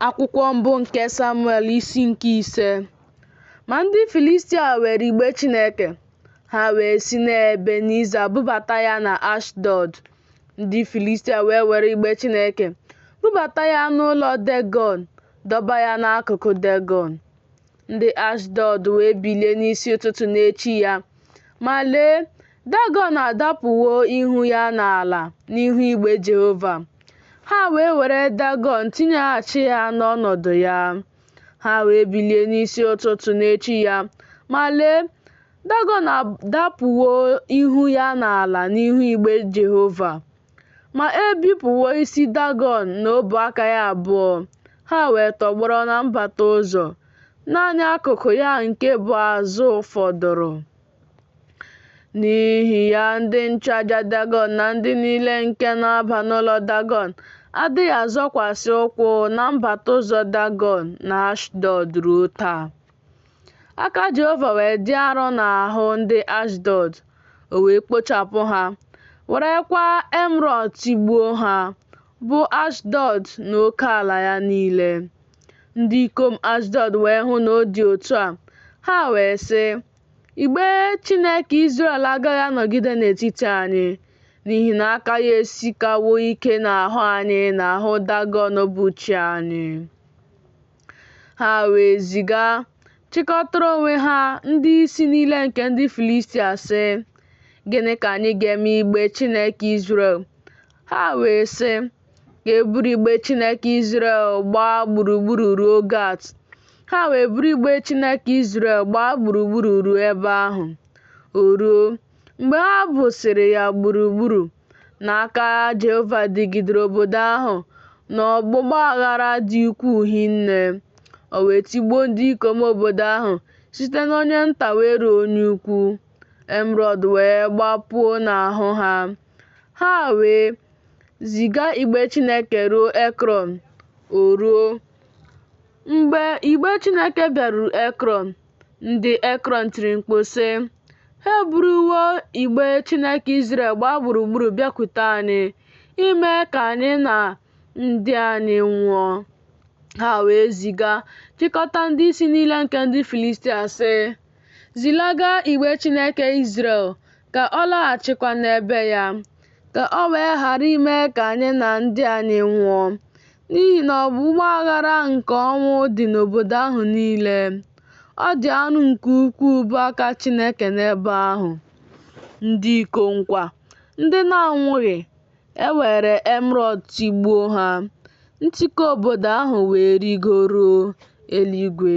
Akwụkwọ mbụ nke Samuel isi nke ise Ma ndị Filistia were igbe Chineke, ha wee si n'Ebeniza bubata ya na Ashdọd. Ndị Filistia wee were igbe Chineke bubata ya n'ụlọ Degọn, dọba ya n'akụkụ Degọn. Ndị Ashdọd wee bilie n'isi ụtụtụ n'echi ya, ma lee, Dagọn adapụwo ihu ya n'ala n'ihu igbe Jehova. Ha wee were Dagọn tinyeghachi ya n'ọnọdụ ya. Ha wee bilie n'isi ụtụtụ n'echi ya, ma lee, Dagọn adapụwo ihu ya n'ala n'ihu igbe Jehova. Ma e bipụwo isi Dagọn na ọbụ aka ya abụọ, ha wee tọgbọrọ na mbata ụzọ. Naanị akụkụ ya nke bụ azụ fọdụrụ. N'ihi ya, ndị nchụaja Dagọn na ndị niile nke na-aba n'ụlọ Dagọn adịghị azọkwasị ụkwụ na mbata ụzọ Dagọn na Ashdọd ruo taa. Aka Jehova wee dị arọ n'ahụ ndị Ashdọd. o wee kpochapụ ha, werekwa emrọd tigbuo ha, bụ Ashdọd na oke ala ya niile. Ndị ikom Ashdọd wee hụ na ọ dị otu a, ha wee sị, Igbe Chineke Izrel agaghị anọgide n'etiti anyị, n'ihi na aka ya esikawo ike n'ahụ anyị na ahụ Dagọn bụ chi anyị. Ha wee ziga chịkọtara onwe ha ndị isi niile nke ndị Filistia sị, Gịnị ka anyị ga-eme igbe Chineke Izrel? Ha wee sị, Ka e buru igbe Chineke Izrel gbaa gburugburu ruo Gat. Ha wee buru igbe Chineke Izrel gbaa gburugburu ruo ebe ahụ. O ruo, Mgbe ha busịrị ya gburugburu na aka Jehova dịgidere obodo ahụ n'ọgbụgba aghara dị ukwuu hinne, o wee tigbuo ndị ikom obodo ahụ site n'onye nta wee ruo onye ukwu, emrọd wee gbapuo n'ahụ ha. Ha wee ziga igbe Chineke ruo Ekrọn. O ruo, mgbe igbe Chineke bịaruru Ekrọn, Ndị Ekrọn tiri mkpu sị, Ha eburuwo igbe Chineke Izrel gbaa gburugburu bịakwute anyị, ime ka anyị na ndị anyị nwụọ. Ha wee ziga chịkọta ndị isi niile nke ndị Filistia sị, Zilaga igbe Chineke Izrel ka ọ laghachikwa n'ebe ya, ka o wee ghara ime ka anyị na ndị anyị nwụọ. n'ihi na ọgbụgba aghara nke ọnwụ dị n'obodo ahụ niile. Ọ dị arụ nke ukwuu bụ aka Chineke n'ebe ahụ. Ndị ikom kwa, ndị na-anwụghị, e were emerọd tigbuo ha, ntiku obodo ahụ wee rigoruo eluigwe.